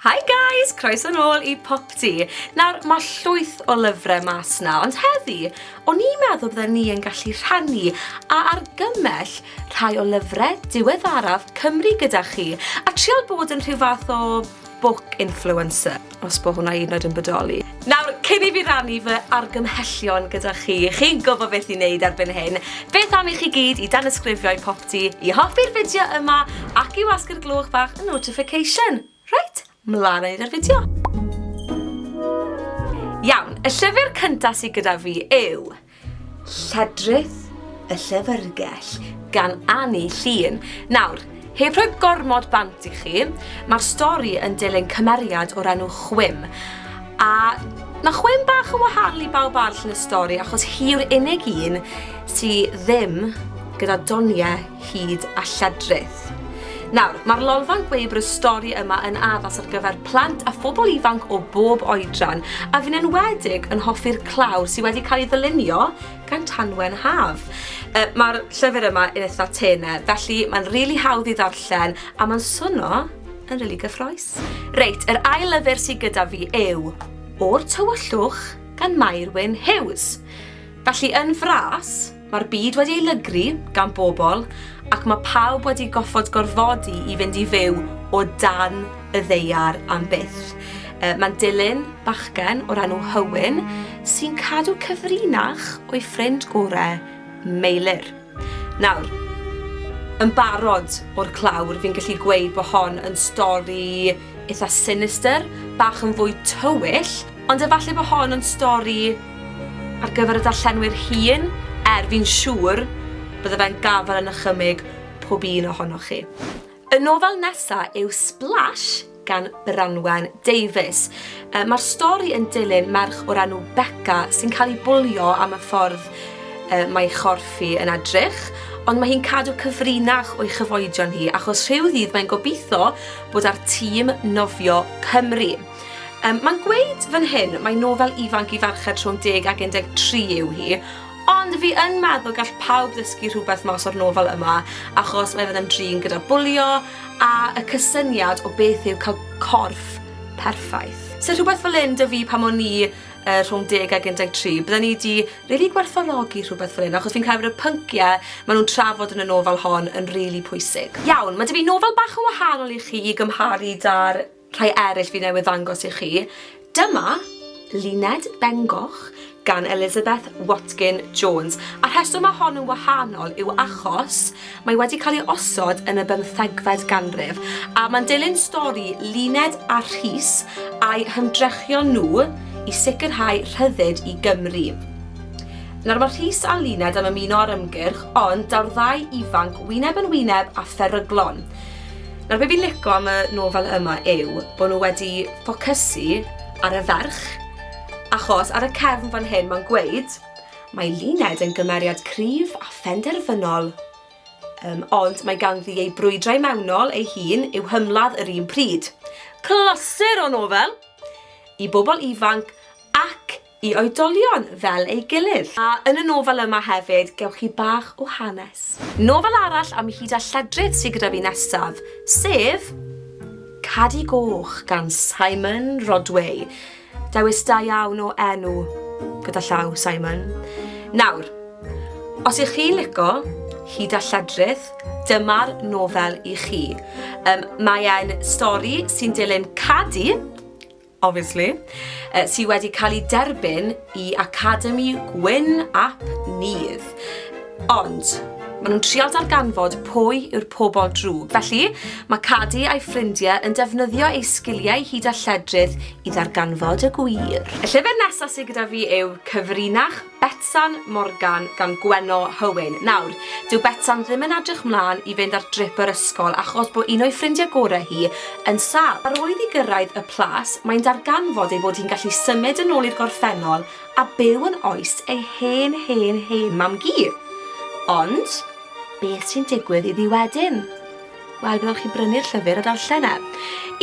Hi guys! Croeso nôl i Popty! Nawr, mae llwyth o lyfrau mas na, ond heddi, o'n i'n meddwl bydden ni yn gallu rhannu a argymell rhai o lyfrau diweddaraf Cymru gyda chi, a trial bod yn rhyw fath o book influencer, os bod hwnna hyd yn oed yn bodoli. Nawr, cyn i fi rannu fy argymhellion gyda chi, chi'n gwybod beth i wneud erbyn hyn. Beth am i chi gyd i danysgrifio i Pop ti i hoffi'r fideo yma ac i wasgu'r gloch fach y notification. Reit, mlaen â ni 'da'r fideo. Iawn, y llyfr cynta sydd gyda fi yw Lledrith y Llyfrgell gan Annie Llun. Nawr, heb rhoi gormod bant i chi, mae'r stori yn dilyn cymeriad o'r enw Chwim. A Mae chwyn bach yn wahanol i bawb arall yn y stori achos hi yw'r unig un sydd ddim gyda doniau hud a lledrith. Nawr, mae'r lolfa'n gweud bod y stori yma yn addas ar gyfer plant a phobl ifanc o bob oedran, a fi'n enwedig yn hoffi'r claw sydd wedi cael ei ddylunio gan Tanwen Haf. Uh, Mae'r llyfr yma yn eitha tene, felly mae'n rili really hawdd i ddarllen a mae'n swno yn rili really gyffroes. Reit, yr ail lyfr sydd gyda fi yw O'r Tywyllwch gan Mair Wyn Hughes. Felly yn fras, Mae'r byd wedi ei lygru gan bobl ac mae pawb wedi goffod gorfodi i fynd i fyw o dan y ddaear am byth. Yy, mae'n dilyn bachgen o'r enw Hywyn sy'n cadw cyfrinach o'i ffrind gore, Meilyr. Nawr, yn barod o'r clawr fi'n gallu gweud bod hon yn stori Eitha sinister, bach yn fwy tywyll, ond efallai bod hon yn stori ar gyfer y darllenwyr hŷn, er fi'n siŵr bydde fe'n gafael yn ychymyg pob un ohonoch chi. Y nofel nesa yw Splash gan Branwen Davies. Mae'r stori yn dilyn merch o'r enw Becca sy'n cael ei bwlio am y ffordd mae chorffi yn edrych, ond mae hi'n cadw cyfrinach o'i chyfoedion hi achos rhyw ddydd mae'n gobeithio bod ar tîm nofio Cymru. Um, Mae'n gweud fan hyn, mae nofel ifanc i farched rhwng 10 ac 13 yw hi, ond fi yn meddwl gall pawb ddysgu rhywbeth mas o'r nofel yma, achos mae fe'n ymdrin gyda bwlio a y cysyniad o beth yw cael corff perffaith. So rhywbeth fel un dy fi pan o'n i uh, rhwng 10 ag 13, bydden ni wedi really gwerthfawrogi rhywbeth fel hyn, achos fi'n credu bod y pynciau maen nhw'n trafod yn y nofel hon yn rili really pwysig. Iawn, mae dy fi nofel bach yn wahanol i chi i gymharu da'r rhai eraill fi newydd ddangos i chi. Dyma Luned Bengoch gan Elizabeth Watkin Jones. A rheswm mae hon yn wahanol yw achos Mae wedi cael ei osod yn y bymthegfed ganrif, a mae'n dilyn stori Luned a Rhys a'u hymdrechion nhw i sicrhau rhyddid i Gymru. Nawr mae Rhys a Luned am ymuno â'r ymgyrch, ond daw'r ddau ifanc wyneb yn wyneb â pheryglon. Nawr be fi'n lico am y nofel yma yw bod nhw wedi ffocysu ar y ferch, achos ar y cefn fan hyn mae'n gweud Mae Luned yn gymeriad cryf a phenderfynol, um, ond mae ganddi ei brwydrau mewnol ei hun i'w hymladd yr un pryd. Clasur o nofel i bobl ifanc ac i oedolion fel ei gilydd. A yn y nofel yma hefyd, gewch chi bach o hanes. Nofel arall am hyd a lledrith sydd gyda fi nesaf, sef Cadi Goch gan Simon Rodway. Dewis da iawn o enw, gyda llaw, Simon. Nawr, os ych chi'n lico hyd a lledrith, dyma'r nofel i chi. Um, mae e'n stori sy'n dilyn Cadi, obviously, uh, sydd wedi cael ei derbyn i Academi Gwyn ap Nydd. Ond, maen nhw'n trial darganfod pwy yw'r pobol drwg. Felly, mae Cadi a'i ffrindiau yn defnyddio ei sgiliau hyd a lledrith i ddarganfod y gwir. Y llyfr nesaf sydd gyda fi yw Cyfrinach Betsan Morgan gan Gwenno Hywyn. Nawr, dyw Betsan ddim yn edrych mlaen i fynd ar drip yr ysgol achos bod un o'i ffrindiau gorau hi yn sâl. Ar ôl iddi gyrraedd y plas, mae'n darganfod ei bod hi'n gallu symud yn ôl i'r gorffennol a byw yn oes ei hen hen hen mam-gu. Ond, beth sy'n digwydd iddi wedyn? Wel, byddwch chi'n brynu'r llyfr a darllen e.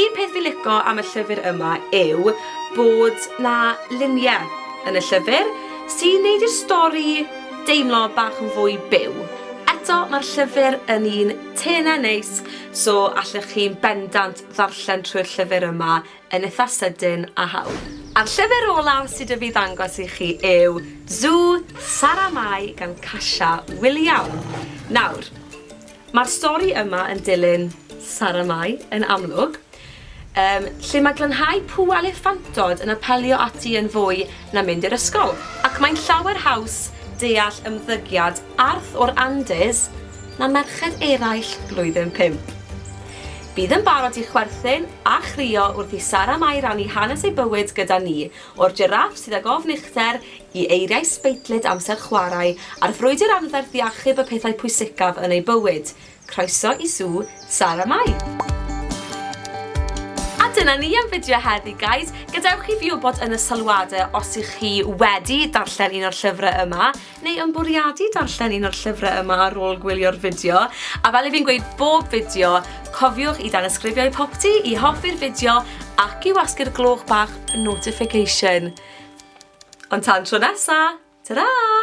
Un peth fi'n lico am y llyfr yma yw bod 'na luniau yn y llyfr sy'n neud i'r stori deimlo bach yn fwy byw. Eto, mae'r llyfr yn un tenau neis, so allwch chi'n bendant ddarllen trwy'r llyfr yma yn eitha sydyn a hawdd. A'r llyfr olaf sy 'da fi ddangos i chi yw Zu Sara Mai gan Kasia Wiliam. Nawr, mae'r stori yma yn dilyn Sara Mai, yn amlwg, um, lle mae glanhau pŵ a lefantod yn apelio ati yn fwy na mynd i'r ysgol, ac mae'n llawer haws deall ymddygiad arth o'r Andes na merched eraill blwyddyn pump. Bydd yn barod i chwerthin a chrio wrth i Sara Mai rannu hanes ei bywyd gyda ni, o'r jiráff sydd ag ofn uchder i eiriau sbeitlyd amser chwarae a'r frwydr anferth i achub y pethau pwysicaf yn ei bywyd. Croeso i Sŵ Sara Mai! A dyna ni am fideo heddi guys, gadewch i fi wybod yn y sylwade os y'ch chi wedi darllen un o'r llyfrau yma, neu yn bwriadu darllen un o'r llyfrau yma ar ôl gwylio'r fideo, a fel i fi'n gweud bob fideo, cofiwch i danysgrifio i popty, i hoffi'r fideo ac i wasgu'r gloch bach notification. Ond tan tro nesa, ta-ra!